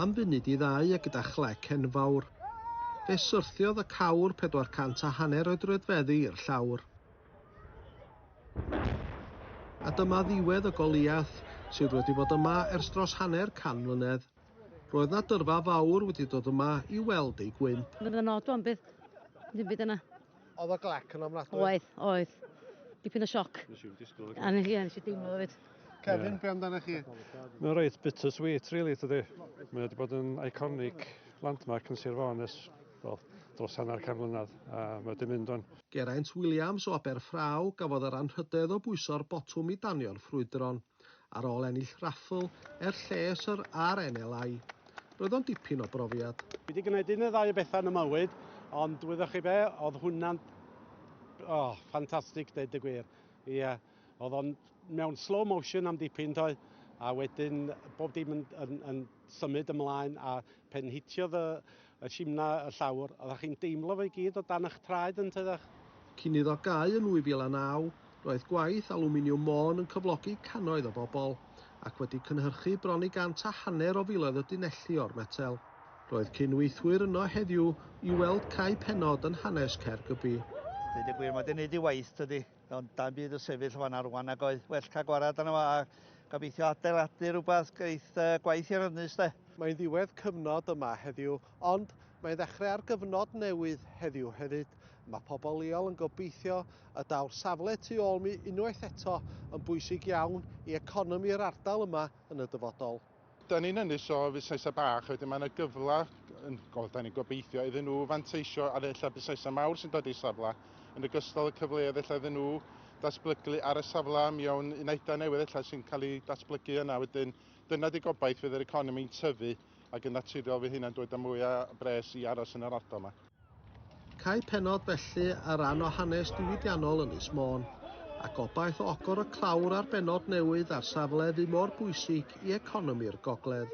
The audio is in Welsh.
Am funud i ddau a gyda chlec enfawr, fe syrthiodd y cawr 400 a hanner o'i droedfeddi i'r llawr. A dyma ddiwedd y Goliath, sydd wedi bod yma ers dros hanner can mlynedd. Roedd 'na dyrfa fawr wedi dod yma i weld ei gwymp. Roedd yna odl am byth. Ddim byd yna. Oedd o glec yn ofnadwy? Oedd, oedd. Dipyn o sioc. Nes i'n disgwyl o. A nes i, nes i deimlo fo fyd. Kevin, yeah. be amdano chi? Mae'n reit bitter sweet, really, tydi? Mae wedi bod yn iconic landmark yn Sir Fôn ers well, dros hanner can mlynedd, a mae wedi mynd o'n. Geraint Williams o Aberffraw gafodd yr anrhydedd o bwyso'r botwm i danio'r ffrwydron. Ar ôl ennill raffl er lles yr RNLI, roedd o'n dipyn o brofiad. Fi wedi gwneud un neu ddau o bethau yn y mywyd, ond wyddoch chi be, oedd hwnna'n oh, ffantastig deud y gwir. Ie, yeah. oedd o'n mewn slow motion am dipyn toi, a wedyn bob dim yn, yn, yn symud ymlaen, a pen hitiodd y, Y simna, y llawr, oeddach chi'n deimlo fo i gyd o dan eich traed yn tyddach. Cyn iddo gau yn 2009, roedd gwaith Alwminiwm Môn yn cyflogi cannoedd o bobl, ac wedi cynhyrchu bron i gant a hanner o filoedd o dunelli o'r metel. Roedd cyn-weithwyr yno heddiw i weld cau pennod yn hanes Caergybi. Deud y gwir, mae 'di neud ei waith, tydi? Ond da bydd y sefyll fan ar wan ac oedd well cael gwarad yna a gobeithio adeiladu rhywbeth geith uh, gwaith i'r ynys de. Mae'n ddiwedd cyfnod yma heddiw, ond mae'n ddechrau ar gyfnod newydd heddiw hefyd. Mae pobl leol yn gobeithio y daw'r safle tu ôl mi unwaith eto yn bwysig iawn i economi'r ardal yma yn y dyfodol. Da ni'n ynys o fusnesau bach, wedyn mae yna gyfle, yn, o, da ni'n gobeithio, iddyn nhw fanteisio ar ella busnesau mawr sy'n dod i'r safle, yn ogystal y cyfleoedd ella iddyn nhw datblygu ar y safle mewn unedau newydd ella sy'n cael ei datblygu yna wedyn. Dyna di gobaith fydd yr economi'n tyfu ac yn naturiol fydd hynna'n dod â mwy o bres i aros yn yr ardal yma. Cau pennod felly ar ran o hanes diwydiannol Ynys Môn, a gobaith o ogor y clawr ar bennod newydd ar safle fu mor bwysig i economi'r gogledd.